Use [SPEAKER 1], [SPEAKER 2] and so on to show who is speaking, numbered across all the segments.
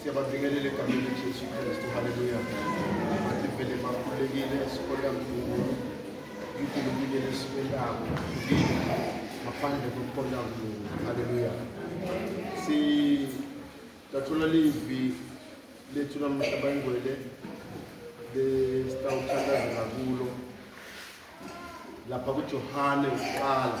[SPEAKER 1] Siyababingelela egameni leJesu Kristu. Haleluya. Bathi vele bakhulekile sikhona kuwo. Unkulunkulu lesiko labo ngaphandle kokukhona kuwo. Haleluya. Si tathola livi lethu namuhla bayingwele lesitawuthandazela kulo lapha kuJohane uqala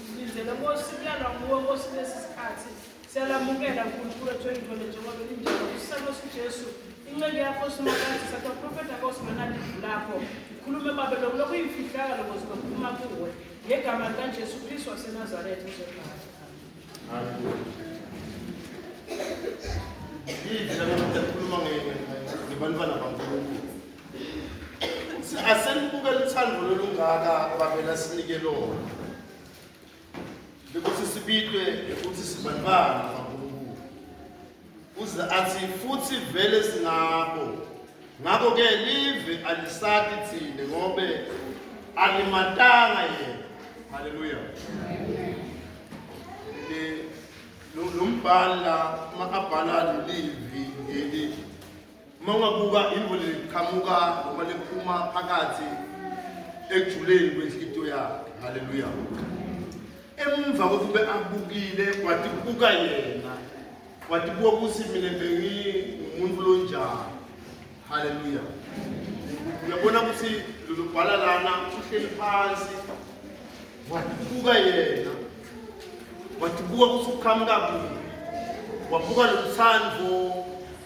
[SPEAKER 2] Ngizele Nkosi kuyalwa nguwe Nkosi lesi sikhathi siyalamukela uNkulunkulu wethu engcwele njengoba linjalo usisana uSijesu inceku yakho simakade sathi uprofeta Nkosi manalivu lakho khulume babe lokhu lokhu yimfihlaka lokho sizophuma kuwe ngegama likaJesu Kristu waseNazaretha uzobhala Yidla
[SPEAKER 1] ngokukhuluma ngebantwana baNkulunkulu Asenibuke luthando lolungaka abavela sinike lona. Bekuthi sibitwe ukuthi sibanibani kaNkulunkulu. Uze athi futhi vele singabo. Ngakho ke live alisati thina ngobe alimatanga yena. Hallelujah. Lo mbhala uma abhala lelivi ngeli Uma ungabuka imvula liqhamuka noma liphuma phakathi ekujuleni kwenhlito yakhe. Haleluya. Emva kokuthi ube abukile wathi buka yena. Wathi buka ukuthi mina bengimuntu lonjani. Haleluya. Uyabona ukuthi lolu bhala lana uhleli phansi. Wathi buka yena. Wathi buka ukuthi uqhamuka kuphi. Wabuka lo msandvo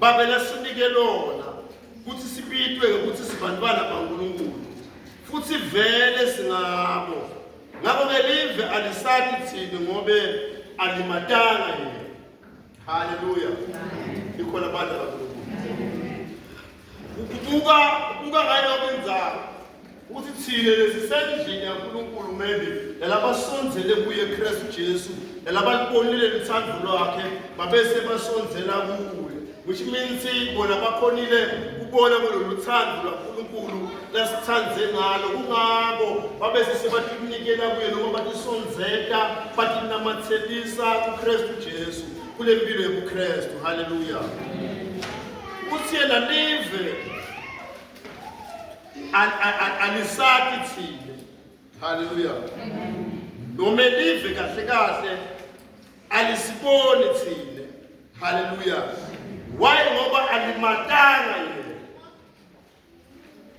[SPEAKER 1] Babe lasinike lona ukuthi sibitwe ukuthi sibantwana baNkulunkulu futhi vele singabo ngakho ke live alisati thini ngobe alimatanga yena haleluya ikhona abantu abaNkulunkulu kubuka kubuka ngayo kwenzalo Ukuthi thina lesisendlini yaNkulunkulu maybe yalabasondzele kuye Kristu Jesu yalabalibonile lithando lwakhe babese basondzela kuye which means bona bakhonile kubona kulolu thando lwaNkulunkulu lasithande ngalo kungako babese sebatinikela kuye noma batisondzeta batinamathelisa kuKristu Jesu kule mpilo yobuKristu haleluya uthi yena live alisaki thina haleluya noma elive kahle kahle alisiboni thina haleluya why ngoba alimatanga yena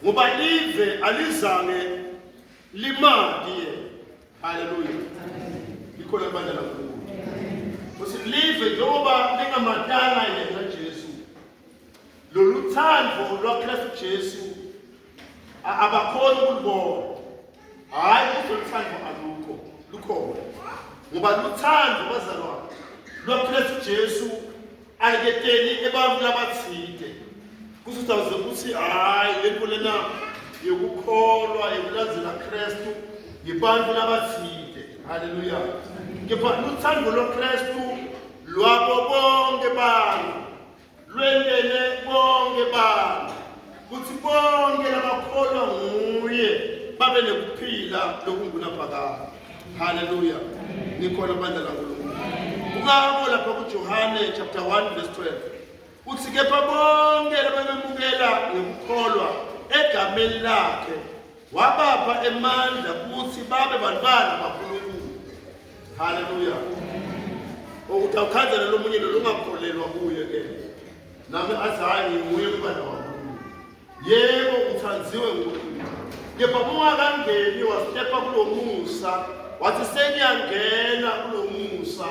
[SPEAKER 1] ngoba live alizange limati yena haleluya likhona abanye lakubo futhi live njengoba lingamatanga yena jesu lolu thando lwakristu jesu abakhona ukulibona hhayi uzoluthando alukho lukhona ngoba luthando bazalwane lwakristu jesu aliketeli ebantwini abathide kusizawuze ukuthi hhayi le nto lena yokukholwa yokulandzela kristu ngibantu labathide haleluya kepha luthando lokristu lwabo bonke bantu lwendele bonke bantu kuthi bonke labakholwa nguye babe nekuphila lokungunaphakade haleluya nikhona bandla lankulunkulu kungako lapha kujohane chapter 1 verse 12 uthi kepha bonke labamemukela ngokukholwa egameni lakhe wabapha emandla ukuthi babe bantwana baNkulunkulu haleluya ukuthi awukhanzele lo munye lelo ungakholelwa kuye ke nami athi hhayi nginguye umntwana waNkulunkulu yebo uthanziwe nguNkulunkulu kepha kungakangeni wasitepa kulo musa wathi sengiyangena kulo musa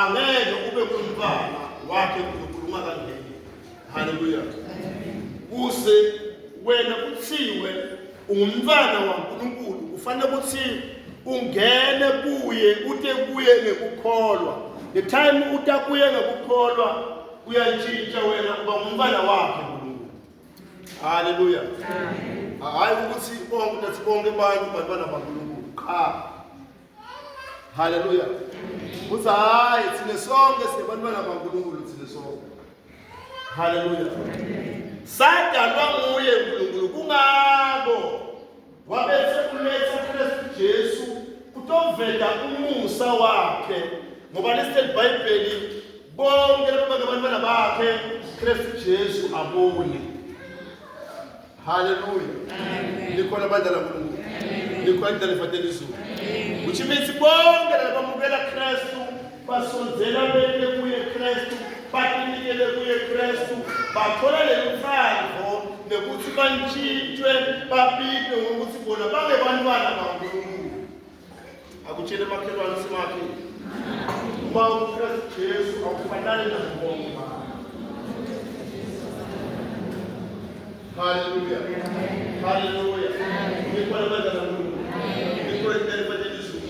[SPEAKER 1] angeke ube ngumntwana wakhe uNkulunkulu ungakangeni Haleluya. Kuze wena kuthiwe ungumntwana waNkulunkulu kufanele ukuthi ungene kuye ute kuye ngekukholwa. The time uta kuye ngekukholwa uyatshintsha wena uba ngumntwana wakhe uNkulunkulu. Haleluya. Hayi ukuthi bonke nathi bonke abantu bantwana baNkulunkulu. Qha Haleluya. Uthi hayi thina sonke sibantwana baNkulunkulu thina sonke. Haleluya. Sadalwa nguye uNkulunkulu kungako wabese kuletha Kristu Jesu kutovela umusa wakhe ngoba lesitheli Bhayibheli bonke laba bantwana bakhe Kristu Jesu abone. Haleluya. Likhona abandla laNkulunkulu. Likhona indlela efanele izulu. Which means bonke labamukela Kristu basondzela beke kuye Kristu, batinikele kuye Kristu, bathola leluthandvo nekuthi bantshintshwe babitwe ngokuthi bona bangebantwana baNkulunkulu. akutshele makhelwane simakhe uma uKristu Jesu akufanani nabonke Haleluya. Haleluya. Ngikho labadala Nkulunkulu. Ngikho entele badelizwe.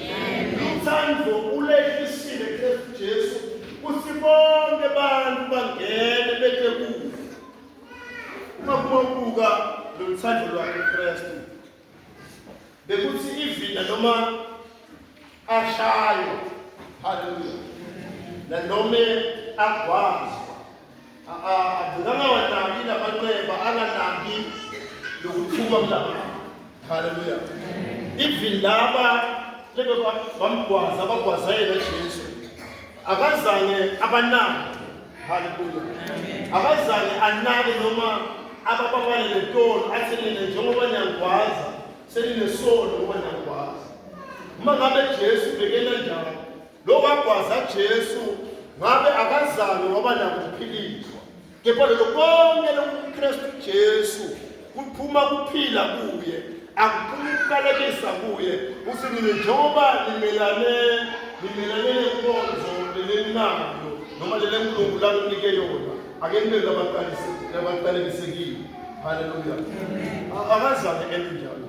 [SPEAKER 1] Uthando ulehlisile Kristu Jesu kuthi bonke abantu bangene bethe kuye. Uma kubuka lo thando lwakhe Kristu bekuthi ivila noma ashayo haleluya nanoma agwazwa akangawanaki lamanxeba anganaki lokuthuma kulaba haleluya even laba lebe bamgwaza bagwaza yena jesu Akazange abanake. Haleluya. Akazange anake noma abababale letolo athi nina njengoba niyangikwaza seninesono ngoba niyangikwaza. Uma ngabe Jesu bekena njalo, lo wagwaza Jesu ngabe akazange waba nakuphilizwa. kepha lelo konke lokuKristu Jesu kuphuma kuphila kuye akuphumi ukukalekisa kuye uthi mina njengoba nimelane nimelane nenkonzo leleninayo noma lele mlungu lakunike yona ake nibe labaqalekisekile haleluya akazane enjalo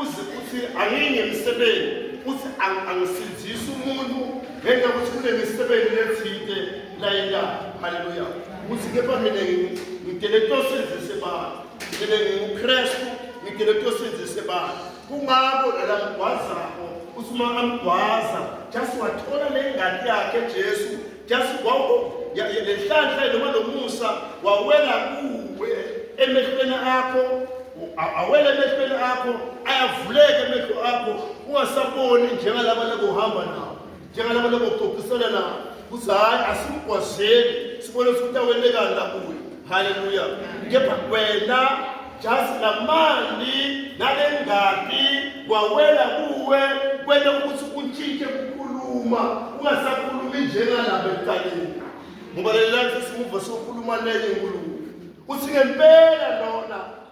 [SPEAKER 1] uze uthi angiyi ngemisebenzi uthi angisindisi umuntu ngenxa yokuthi kunemisebenzi lethinte layina haleluya ukuthi kepha mina ngidele kuyosenzise bani mina ngingukrestu ngidele kuyosenzise bani kungako lala mgwazako uthi uma amgwaza just wathola le ngadi yakhe jesu just lenhlanhla noma lomusa wawela kuwe emehlweni akho awele emehlweni akho ayavuleka emehlo akho ungasaboni njengalaba labohamba nawo njengalaba laboxoxisana nawo kuthi hhayi asimgwazeli sibone ukuthi awelekani lakuyo Haleluya. Kepha wena just lamani nalengati wawela kuwe kwenta ukuthi utshintshe kukhuluma ungasakhulumi njengalabo ekuqaleni ngoba lelilanisa simuva sokhuluma nenye nkulumo uthi ngempela lona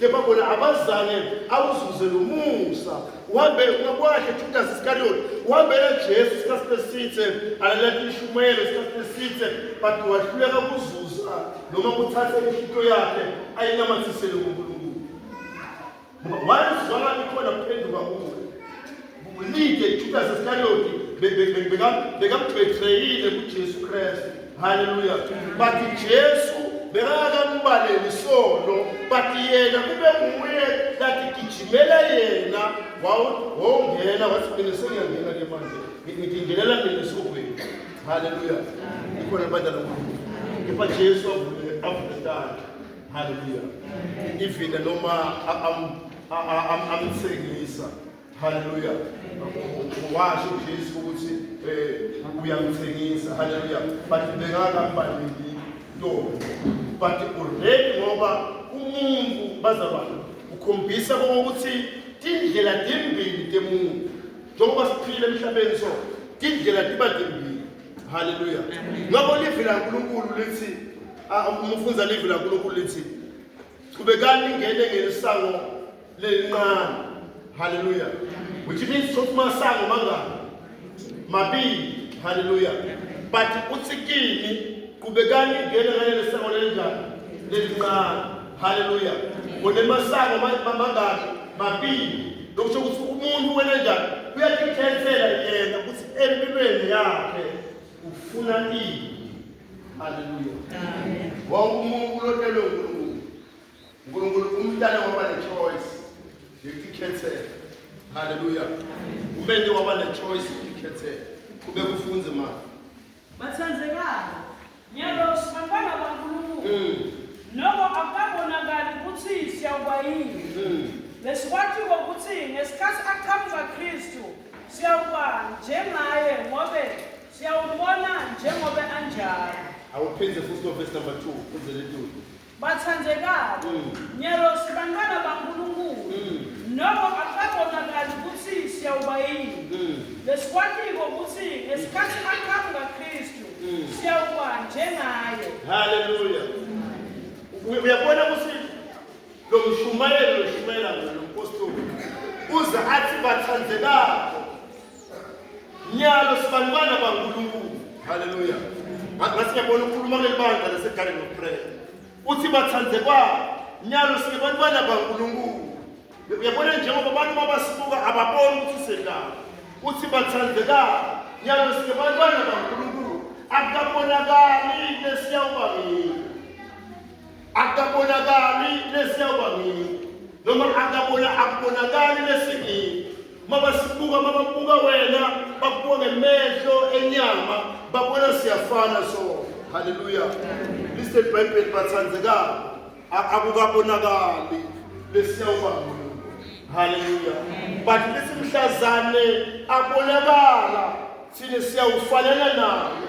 [SPEAKER 1] kepha bona abazange awuzuze lo musa uhambe kwakhe judas iskariyoti uhambela jesu isikhathi besithe alalela ishumayelo isikhathi besithe but wahluleka kuzuza noma kuthathe inhlito yakhe ayinamathisele kunkulunkulu ngoba wayezwakala ikhona kuphenduka kuwe Kulide iJudasi Iskariyoti bekambetreyile kuJesu Kristu. Haleluya. But Jesu bekakakambaleli isono but yena kube nguye lathi gijimela yena wawungena wathi mina sengiyangena ke manje ngingenela mina esihogweni haleluya ikhona bandla lonkulunkulu kepha jesu avule avule tandla haleluya ivile noma amthengisa Haleluya. Washo Jesu ukuthi eh uyamthengisa. Haleluya. But bengaka mbalini ntombi. But already ngoba umuntu bazalwane ukhombisa ukuthi tindlela timbili temuntu njengoba siphile emhlabeni so tindlela tiba timbili haleluya ngakho livi lankulunkulu lithi ah, umfunza livi lankulunkulu lithi qhubekani ningene ngelisango lelinqane haleluya which means ukuthi masango mangaki mabili haleluya but uthi kini qhubekani ningene ngaleli sango lelinjani lelinqane haleluya unemasango mangaki mabili lokusho ukuthi umuntu wena njani uyazikhethela yena ukuthi empilweni yakhe ufuna ini Haleluya. Amen. Wonke umuntu ulotelwe uNkulunkulu. uNkulunkulu umntana waba ne-choice yokukhethela. Haleluya. Umente waba ne-choice yokukhethela. Kube kufunze manje.
[SPEAKER 2] Bathandekani. Nyalo sibantwana baNkulunkulu. Mm. Noma akabonakali ukuthi siyawuba yini. Mm. Lesikwathiwa ukuthi ngesikhathi aqhamuka Kristu siyawuba njengaye ngobe Siyawubona njengoba anjalo. Awuphinde futhi
[SPEAKER 1] no verse number 2 uzele tutu. Bathandekabo,
[SPEAKER 2] Mm. nyerosi bantwana baNkulunkulu, Mm. noko akukabonakali ukuthi siyawuba yini. Mm. Lesikwatiko ukuthi ngesikhathi aqhamuka Kristu, Mm. siyawuba njengaye.
[SPEAKER 1] Hallelujah. Uy- Uyabona ukuthi lo mshumayeli lo mshumayela lo mpostoli uze athi bathandekabo Nyalo sibanibana baNkulunkulu. Hallelujah. Ngathi ngiyabona ukhuluma kuleli bandla laseGarden of Prayer. Uthi bathandekwayo. Nyalo sibanibana baNkulunkulu. Uyabona njengoba abantu mabasibuka ababoni ukuthi sedlala. Uthi bathandekayo. Nyalo sibanibana baNkulunkulu. Akabonakali lesiyawuba mina. akabonakali lesiyawuba ngini noma akabona akubonakali lesingini uma basibuka uma babuka wena bakubuka ngemehlo enyama babona siyafana so haleluya listen bible bathandekako akukabonakali lesiyawuba ngini haleluya but lesimhlazane abonakala thina siyawufanela naye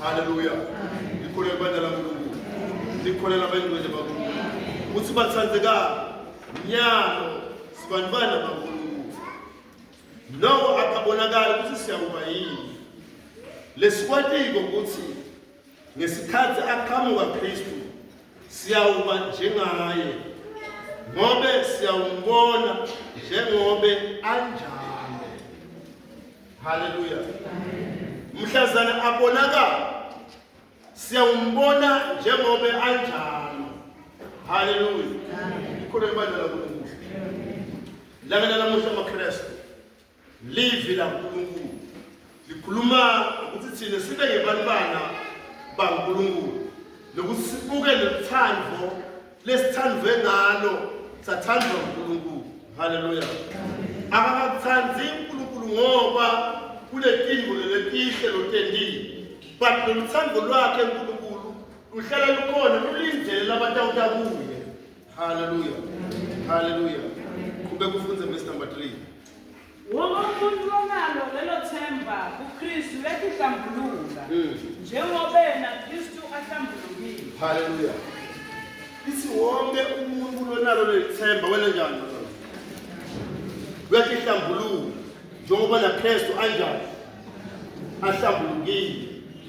[SPEAKER 1] Haleluya. Ngikholelwa kubantwana kaNkulunkulu. Ngikholelwa abayingcwele bakuNkulunkulu. Ukuthi bathandekani. Nyalo sibanibana bakuNkulunkulu. Noko akabonakali ukuthi siyakuba yini. Lesikwatiko ukuthi ngesikhathi aqhamuka Kristu siyawuba njengaye ngobe siyawumbona njengobe anjalo. haleluya mhlazana abonakala siyawumbona njengobe anjalo haleluya ikhona ibandla lankulunkulu langa lalamuhla amakrestu livi lankulunkulu likhuluma ukuthi thina sibe ngebantwana bankulunkulu nokuthi sibuke nothando lesithandwe ngalo sathandwa uNkulunkulu haleluya akakathandi uNkulunkulu ngoba kuletingo leletihle lotendile but loluthando lwakhe uNkulunkulu luhlala lukhona lulindele labatawuta kuye haleluya haleluya qhubeka ufunde verse number 3 Wonke
[SPEAKER 2] umuntu onalo lelo themba kuKristu uyakuhlambuluka Mm. njengoba yena Kristu ahlambulukile.
[SPEAKER 1] Haleluya. Ithi wonke umuntu lonalo lelithemba wena njani mfana? Uyakihlambulula njengoba naKristu anjani ahlambulukile.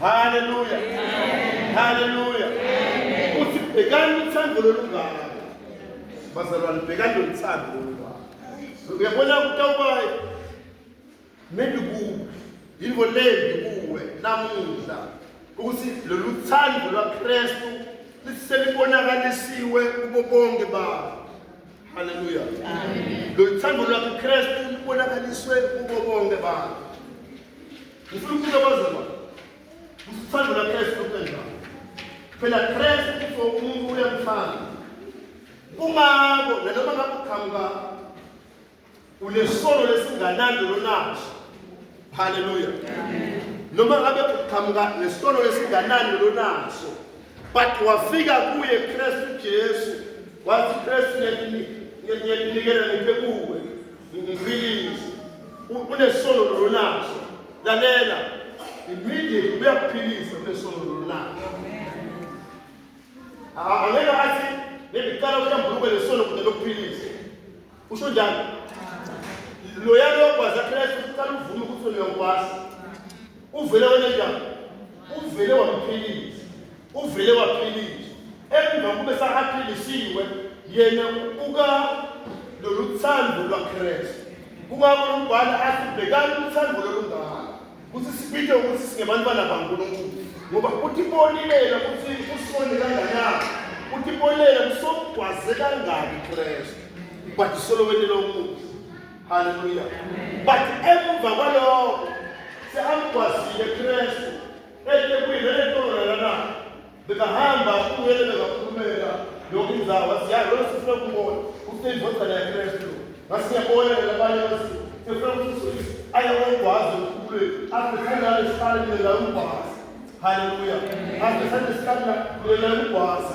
[SPEAKER 1] Haleluya. Haleluya. Uthi bhekani uthando lolungaka. Bazalwane bhekani loluthando lolungaka. Uyabona kutawubayi maybe kuwe yinto lembi kuwe namuhla ukuthi lolu thando lwaKristu liselibonakalisiwe kubo bonke babo. Haleluya. Amen. Lolu thando lwaKristu libonakaliswe kubo bonke babo. Ngifuna ukubuza bazalwa. Usithando la Kristu uqedwa. Phela Kristu kuso umuntu uyamthanda. Kungako nanoma ngakuqhamuka unesolo lesinganandi lonaso. Hallelujah. Noma ngabe uqhamuka nesolo lesinganandi lonaso. But wafika kuye Kristu Jesu. Wathi Kristu ngiyakunikela ngiphe kuwe. ngikuphilise unesono lolonaso lalela immediate uyakuphilisa unesono lolonaso angeke athi ngiqala uhlambuluke lesono kunye lokuphilisa usho njani loya lokwazi akhela uqala uvume ukuthi uyokwasa uvele wenekani uvele wamphilisa uvele waphilisa emva kube sahaphilisiwe yena ubuka lolu thando lwakristu kungakho lombhala athi bhekani uthando lolungaka ukuthi sibike ukuthi singebantwana bankulunkulu ngoba utibonelela ukuthi usone kanganani utibonelela kusokugwaze kangaki kristu but solo wenela umusa Hallelujah. Amen. But emva kwalokho seamgwazile Kristu eThekwini eNtololana na bekahamba kuyele bekakhulumela yonke indawo wasiyazi lona sifuna ukubona ukuthi indodana yaKristu ngasiyabona labanye basi sifuna ukuthi aye kokwazi ukhulule asithandane sihlale nela ukwazi haleluya asithande sihlale nela ukwazi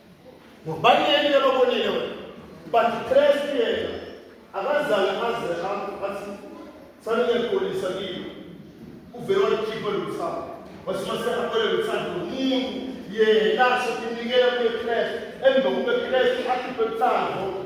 [SPEAKER 1] ngubani yena ababonile wena but Christ yena akazange aze athi sanike polisa kini uvele wakhipha lomsamo wasimasehakwele luthando lomuntu yena sokunikela kuye Christ emva kube Christ akhiphe luthando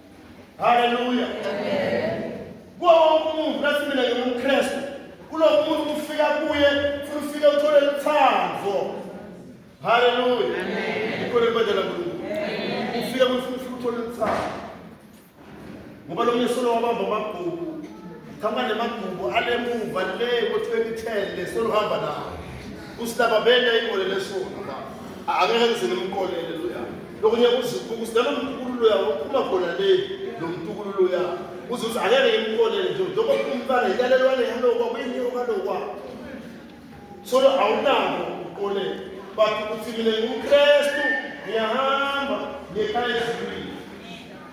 [SPEAKER 1] Haleluya. Amen. Kuwo wonke umuntu ngathi mina ngingumKristu. Kulo muntu kufika kuye futhi ufike uthole uthando. Haleluya. Amen. Ikole mbadala kuNkulunkulu. Amen. Ufike kuye futhi ufike uthole uthando. Ngoba lo myesolo wabamba amabhuku. Khamba nemabhuku alemuva le ngo-2010 lesolo hamba nawo. Usilaba benda ingole lesona. Angeke ngizile umkolele. lokunye kuzikhulu sidala umtukululo yawo uphuma khona le lo mtukululo yawo uze uthi angeke ngimkolele nje njengoba umfana yilalelwane yalokwa kuyini yokalokwa so awunako ukuqolela but ukuthi mina ngumkrestu ngiyahamba ngekhaya ezulwini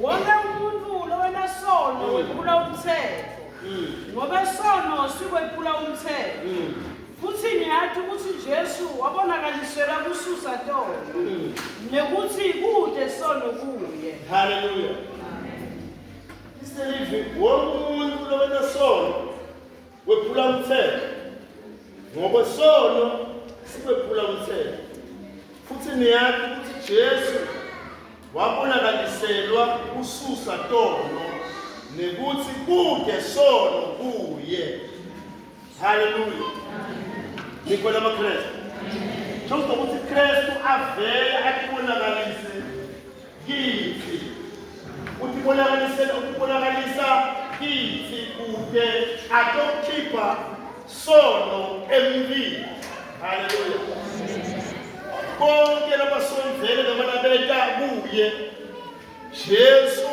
[SPEAKER 1] Wonke
[SPEAKER 2] umuntu lowenasono mm. wephula umthetho mm. ngoba isono sikwephula umthetho mm. futhi ngiyathi ukuthi Jesu wabonakalisela kususa tolo nekuthi kude sono kuye haleluya
[SPEAKER 1] iselivi wonke umuntu lowenasono wephula umthetho ngokwesono siwephula umthetho futhi niyazi ukuthi Jesu wabonakaliselwa ususa tono nekuthi kude sono kuye haleluya nikho lamaKristu Njengoba ukuthi Kristu avele atibonakalise kithi uthi bonakalisela ukubonakalisa kithi kude atokukhipha sono emlini haleluya konke labasonzele noma labeta kuye jesu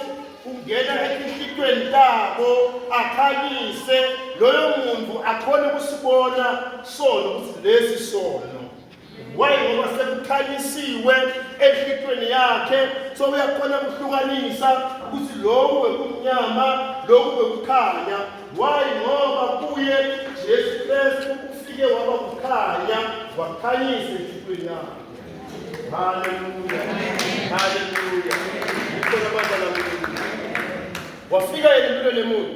[SPEAKER 1] ungena etinhlitweni tabo akhanyise loyo muntu akhone ukusibona sono ukuthi lesi sono Why ngoba sekukhanyisiwe enhlitweni yakhe so uyakhona ukuhlukanisa ukuthi lokhu bekumnyama lokhu bekukhanya why ngoba kuye Jesu Kristu ufike waba kukhanya wakhanyisa enhlitweni yakhe haleluya haleluya ngikho nabazalwane wafika yena empilweni yomuntu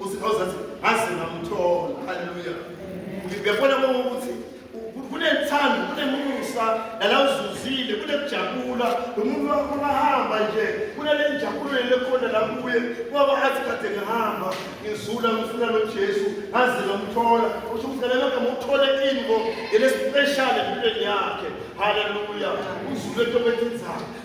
[SPEAKER 1] usikhawuza athi ngaze ngamthola haleluya ngiyabona ukuthi kunethando kunemusa nala uzuzile kunekujabula umuntu wakho bahamba nje kunale njabulo lekhona la kuye kwaba athi kade ngihamba ngizula ngifuna nojesu ngaze ngamthola usho ukuthi nale magama uthole ini ngo ngelespeshali empilweni yakhe haleluya uzule into bethinzana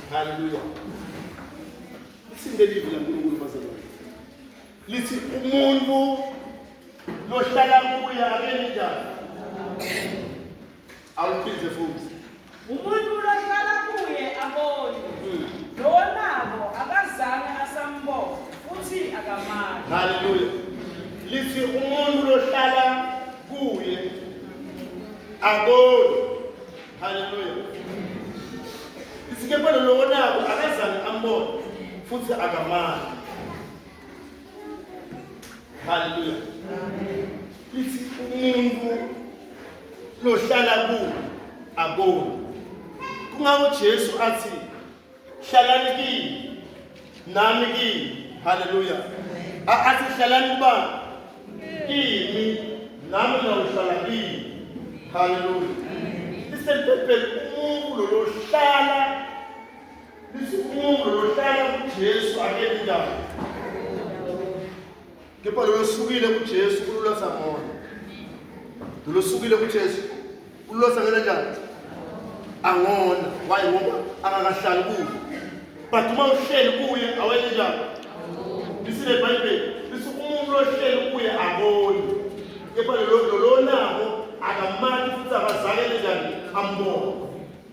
[SPEAKER 1] Hallelujah. Listen to the Lord, bazalwane. Lithi umuntu lohlala kuye akeni njani? Awuphinde futhi. Umuntu
[SPEAKER 2] lohlala kuye abone. Hmm. Lonabo akazange asambona futhi akamali. Hallelujah.
[SPEAKER 1] Lithi umuntu lohlala kuye abone. Haleluya. Isikepelo lowo nako akazange ambone futhi akamali. Haleluya. Lithi umuntu lohlala ku aboni. Kungako Jesu athi hlalani kimi nami kimi haleluya asihlalani kubani kimi nami nawuhlala kimi haleluya lisempepeni umuntu lolohlala lisikhumbulo lohlala kuJesu akele indawo Kepha lolosukile kuJesu kululosa ngona. Lolosukile kuJesu kululosa ngena njani? Angona. Why ngoba akakahlali kuyo. But uma uhleli kuye awenye njani? Lisi le Bible. Lisi umuntu lohleli kuye aboni. Kepha lolonako akamani futhi akazakele njani ambona.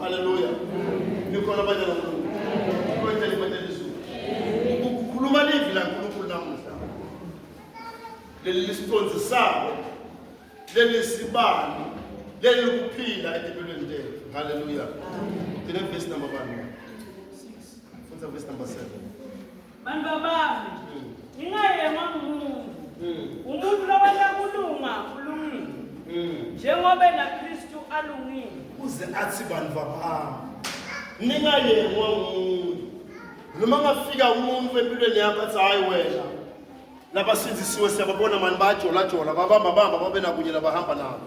[SPEAKER 1] Haleluya. Nikhona abanye namuhla. Kwenzela imali elizulu. Ukukhuluma livi la Nkulunkulu namuhla. Leli lisicondzisako. Leli sibani. Leli ukuphila etempelweni lethu. Haleluya. Ngine verse number 1. Fundza verse number 7. Bantu
[SPEAKER 2] bami, ngingayengwa ngumuntu. Umuntu lobana kulunga ulungile. Njengoba na Kristu alungile. Uze athi
[SPEAKER 1] bantu bami, ningayengwa ngumuntu. Noma ngafika umuntu empilweni yakho athi hayi wena. Labasindisiwe siyababona mani bayajola jola babamba bamba babe nakunye labahamba nabo.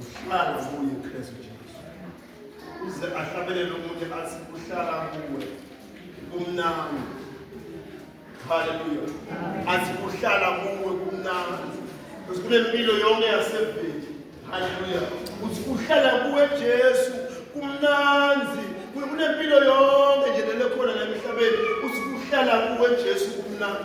[SPEAKER 1] uhlala kuye Kristu Jesu uze ahlabelele umuntu athi uhlala kuwe kumnandi haleluya athi uhlala kuwe kumnandi bese kunempilo yonke yaseveli haleluya uthi uhlala kuwe Jesu kumnandi kunempilo yonke nje lekhona la emhlabeni uthi uhlala kuwe Jesu kumnandi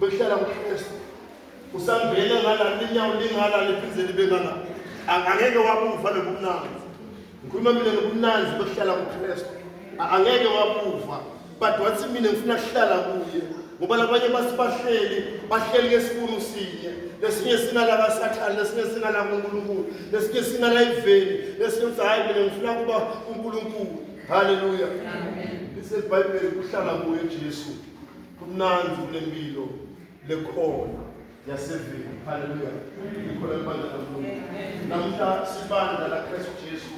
[SPEAKER 1] behlala kuKristu usangene ngala linyawo lingala liphinde libe ngala angeke wabuva lobumnandi ngikhuluma mina ngobumnandi bokuhlala kuKristu angeke wabuva but wathi mina ngifuna kuhlala kuye ngoba labanye basibahleli bahleli ngesibunu sinye lesinye sinala kasathane lesinye sinala kunkulunkulu lesinye sinala iveni lesinye uthi hhayi mina ngifuna kuba unkulunkulu haleluya lisebhayibheli kuhlala kuye jesu kumnandi kulempilo lekhona yaseveni haleluya ikhona ibandla kaNkulunkulu namhla sibandla laKristu Jesu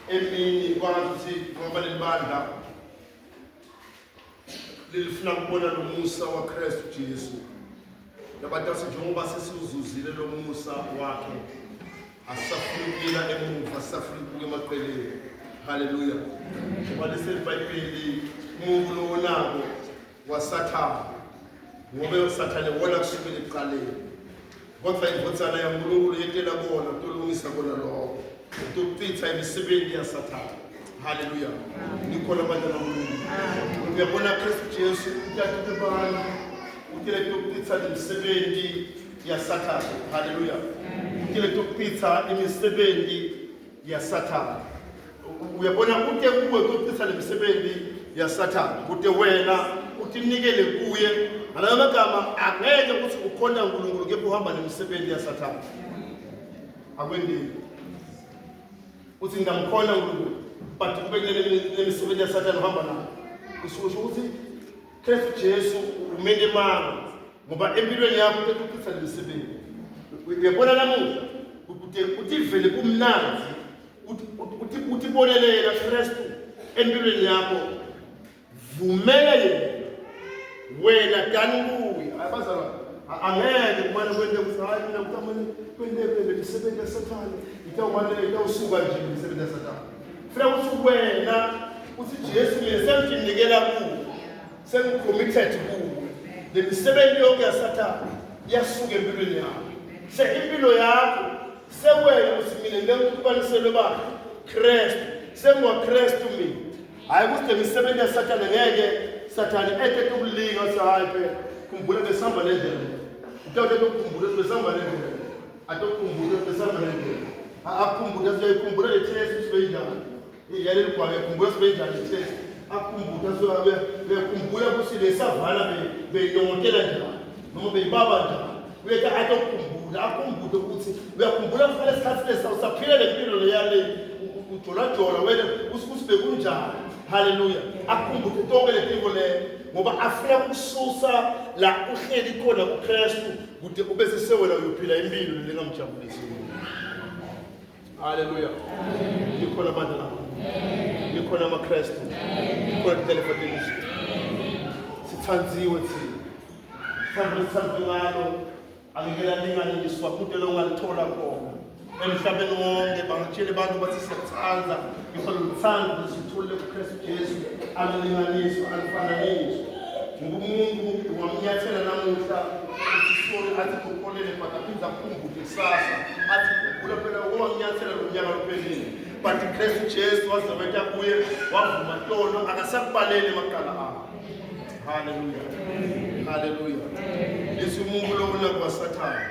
[SPEAKER 1] emini kwazi ukuthi ngoba libandla lilifuna kubona lo musa waKristu Jesu yabantu asenjengoba sesiwuzuzile lo musa wakhe Asisafuni ukuyela emuva, asisafuni ukubuka emaqeleni. Haleluya. Ngoba liseBhayibheli umuntu lowo nako wasathana. Ngoba usathane wona kusukela ekuqaleni. Kodwa indvodzana yaNkulunkulu yetela kona utolungisa kona lokho. Utochitha imisebenzi yasathana. Haleluya. Nikhona abantwana baNkulunkulu. Uyabona Kristu Jesu uthathe abantu utele tokuchitha imisebenzi yasathane haleluya kile tokuchitha imisebenzi yasathane uyabona kude kuwe kokuchitha le misebenzi yasathane kude wena utinikele kuye ngalayo magama angeke ukuthi ukhona unkulunkulu kepha uhamba nemisebenzi yasathane akwendini uthi ngingamkhona unkulunkulu but kube kunemisebenzi yasathane uhamba nayo kusho ukuthi Khefu Jesu umele mama ngoba empilweni yakho utetuphisa lemisebenzi uyabona namuhla ukuthi uthi vele kumnandi uthi uthi bolelela Kristu empilweni yakho vumela yena wena dani kuye abazalwa angeke kumane kwente ukuthi hayi mina kutamane kwente kwente imisebenzi yasathane itawumane itawusuka nje imisebenzi yasathane Funa ukuthi wena uthi Jesu mina senginikela kuwe. Sengicommitted kuwe. Le misebenzi yonke yasathana yasuka empilweni yakho. Se impilo yakho sewena ukuthi mina ngiyakubaniselwe ba Christ. Sengwa Christ mina. Hayi ukuthi le misebenzi yasathana ngeke sathana ete kulinga sahayi phela. Khumbula besihamba nendlela. Utawuthe ukukhumbula besihamba nendlela. Atokhumbula besamalengelo. Akhumbula siyayikhumbula le test sibeyinjani. Yale ligwala yakhumbula sibeyinjani le test. Akhumbula siyabe bekhumbula ukuthi le savana beyilongotela njani noma beyibaba njani. Uyethi atokhumbula akhumbule ukuthi uyakhumbula kufanele isikhathi lesi usaphila le mpilo leyale ujolajola wena usikuthi bekunjani. Haleluya. Akhumbule konke le mpilo le ngoba afuna ukususa la uhleli khona kuKristu. kude ube sesewela uyophila impilo lengamjabulisi haleluya likhona abantu labo likhona amakristu likhona telefatekisi sithandziwe thina sithanda sithanda ngalo angeke lalingane ngiswaphuntela ongalithola khona emhlabeni wonke bangatshela abantu bathi siyathanda ngifuna luthando lusithule kuKristu Jesu alulinganiswa alufananiswa ngoba umuntu ungamnyathela namuhla isisoni athi kukolele but aphinde akhumbule kusasa athi khumbula phela ungamnyathela lo nyaka luphelile but uKristu Jesu wazobetha kuye wavuma tolo akasakubaleli maqala akho haleluya haleluya lesi umuntu lokulakwa sathana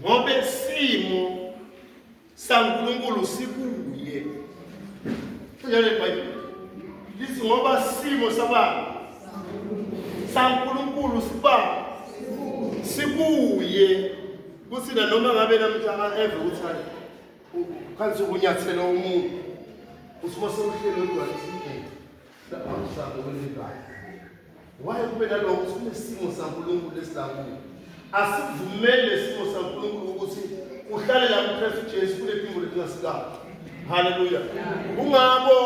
[SPEAKER 1] ngoba isimo saNkulunkulu sikuye njalo iBhayibheli lithi ngoba isimo sabani saNkulunkulu siba sikuye kuthi nanoma ngabe namhla eve uthani khansi ukunyathela umuntu usimo sewuhlelo lwakhe Laphamhlanje kwelibhayi. Waye kube nalokho sinesimo saNkulunkulu esilakuyo. Asivumele lesimo saNkulunkulu ukuthi uhlale la kuKristu Jesu kunephimbo lelingasikala. Haleluya. Kungabo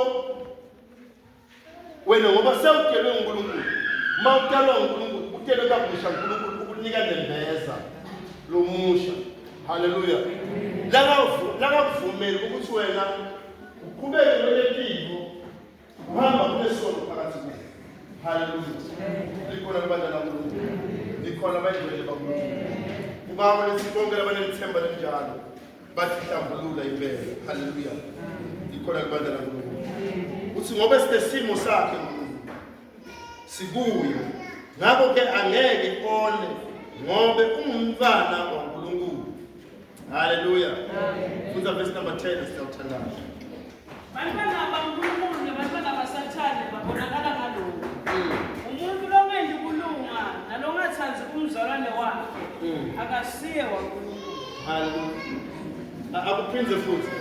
[SPEAKER 1] wena ngoba sewudelwe uNkulunkulu. Mawutalwa uNkulunkulu, udelwe kabusha uNkulunkulu ukunika nembeza lomusha. Haleluya. Laka laka kuvumela ukuthi wena uqhubeke nolempilo Hamba kulesonto phakathi kuyo. Hallelujah. Likhona kubantwana kuNkulunkulu. Likhona abayingcwele bakuNkulunkulu. Kubaba lesi bonke labanelithemba linjalo. Basihlambulula impela. Hallelujah. Likhona kubantwana kuNkulunkulu. Uthi ngoba sitesimo sakhe sikuyo ngakho ke angeke one ngobe ungumntwana waNkulunkulu haleluya funda verse number 10 sithathandayo bantwana
[SPEAKER 2] baNkulunkulu nabantwana basathane babonakala ngalokho mm. umuntu longendi kulunga nalongathandi umzalwane wakhe mm. akasiye waNkulunkulu
[SPEAKER 1] haleluya akuphinde futhi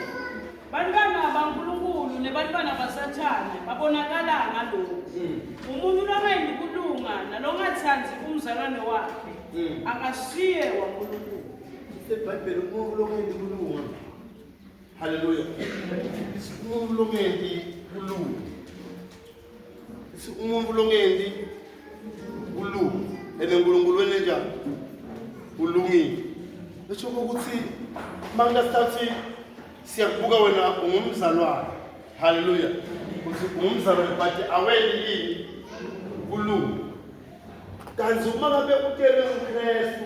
[SPEAKER 1] Bantwana
[SPEAKER 2] baNkulunkulu nebantwana baSathane babonakala ngalokhu. Mm. Umuntu longayendi kulunga nalongathandi umzalwane wakhe mm. akasiye waNkulunkulu. IBhayibheli
[SPEAKER 1] umuntu longayendi kulunga. Haleluya. Umuntu longayendi kulunga. umuntu longendi ulu ene nkulunkulu wenenjani ulungile esho ukuthi manje sithathi siyakubuka wena ungumzalwane haleluya ukuthi ungumzalwane but aweni yini kulunga kanti uma ngabe utele uKristu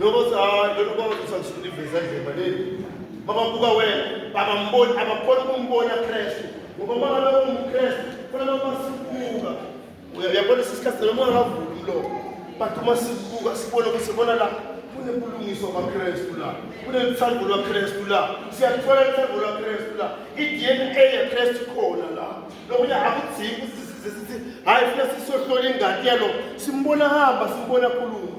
[SPEAKER 1] Nobose hayi lona ubaba uthi angisuke iveza ndleba leli. Baba buka wena, baba mboni abakhona ukumbona Kristu. Ngoba uma ngabe ungumKristu, kufanele uma sibuka. Uyabona isikhathi noma ungavuli umlomo. But uma sibuka sibona ukuthi bona la kunebulungiswa kwaKristu la. Kunelithando lwaKristu la. Siyathola ithando lwaKristu la. I-DNA yaKristu khona la. Lokuya akudzingi ukuthi sithi hayi funa sisohlola ingadi yalo. Simbona hamba, simbona khuluma.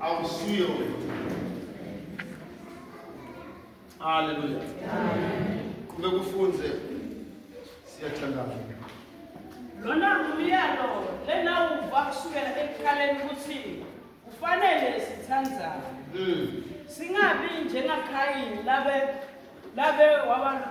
[SPEAKER 1] awusuye haleluya kube kufunze siyathandaza
[SPEAKER 2] lona ngumyalo lena uva kusukela ekuqaleni ukuthi kufanele sithandzane hmm. singabi njengakayini labe labe waba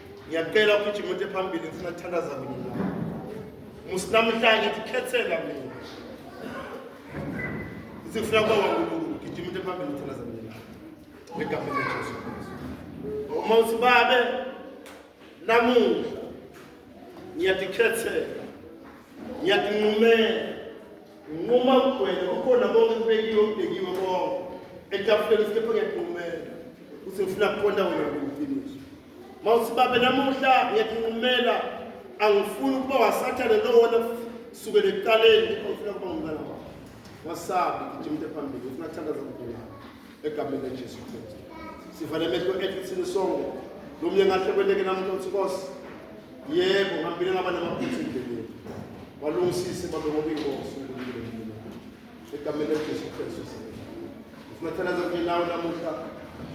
[SPEAKER 1] ngiyacela ugijima uthi phambili ngifuna kuthandaza kunye nawe musi namhlanje ndikhethela mina sifuna kuba wankulunkulu gijima uthi phambili ngithandaza kunye nawe egameni lejesu kristu uma uthi babe namuhla ngiyadikhethela ngiyadinqumela nginquma kugwele kukhona konke kubekiwe kubhekiwe konke etafuleni sikepha ngiyadinqumela uthi ngifuna kuqonda wena ngokufiniso mawusibabe namuhla ngiyakunqumela angifuni ukuba wasathane lowona sukele ekuqaleni ofuna kuba umntana wakho wasabi gijima into ephambili ufuna kuthandaza kukhona egameni lejesu kristu sivale emehlo ethu thina sonke lo mnye ngahle kweleke namuntu othi nkosi yebo ngambile ngaba namaphutha endleleni walungisise babe ngoba inkosi unkulunkulu egameni likaJesu Kristu ngifuna ukuthandaza kunye nawe namuhla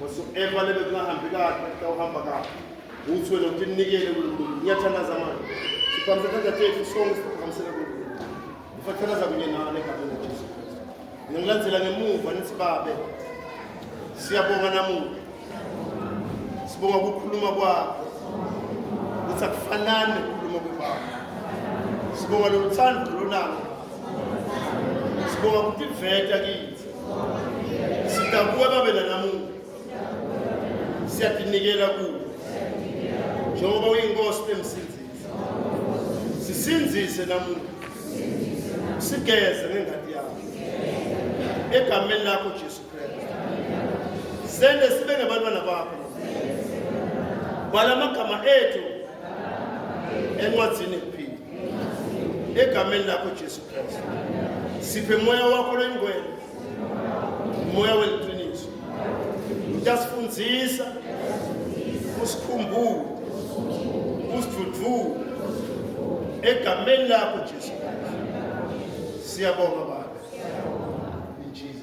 [SPEAKER 1] whatsoever lebe kungahambi kahle kutawuhamba kahle uthi wena ukuthi ninikele kuNkulunkulu ngiyathandaza manje siphambise isandla tethu sonke siphakamisele kuNkulunkulu ngifuna ukuthandaza kunye nawe egameni likaJesu Kristu ngilandzela ngemuva nithi babe siyabonga namuhla sibonga ukukhuluma kwakho ukuthi akufanani nokukhuluma kwebaba sibonga loluthando lonalo sibonga ukuthi iveta kithi sidakuwe babe nanamuhla siyadinikela kuwe njengoba uyinkosi nemsinzisi sisinzise namuhla sigeze ngengadi yakho egameni lakho jesu Sende sibe ngabantwana bakho. Bhala amagama ethu encwadzini yokuphila. Egameni lakho Jesu Kristu. Siphe moya wakho lengcwele. Moya weliqiniso. Utasifundisa usikhumbule usidudvule egameni lakho Jesu. Siyabonga